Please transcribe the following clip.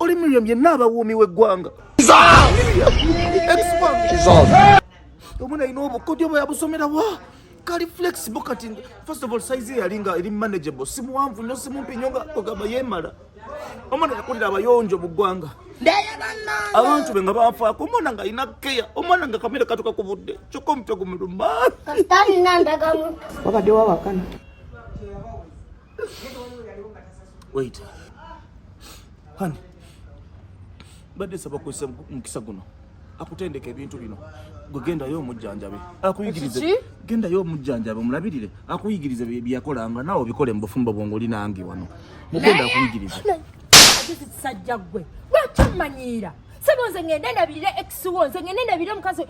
oli miriam yenna abawuumi w'eggwanga omwana alina obukodyo bwe yabusomera wa kali flexible kati first of all size yali nga eri manageable si muwanvu nnyo si mumpi nnyo nga ogamba yeemala omwana yakulira abayonjo mu ggwanga abantu be nga banfaako omwana nga alina keya omwana nga kamere katuka ku budde kyokka omutwe gumuluma babadde wawakana Wait. Honey. Badde saba kwesa mukisa guno. Akutendeke ebintu bino. Gwe gendayo omujjanjabe. Akuyigirize. Gendayo omujjanjabe omulabirire. Akuyigirize byeyakolanga nawe obikole mu bufumbo bwongo linange wano. Mugenda akuyigirize. Sajja gwe. Lwaki omanyiira? Sebo nze ngende ndabirire ex wo nze ngende ndabirire omukazi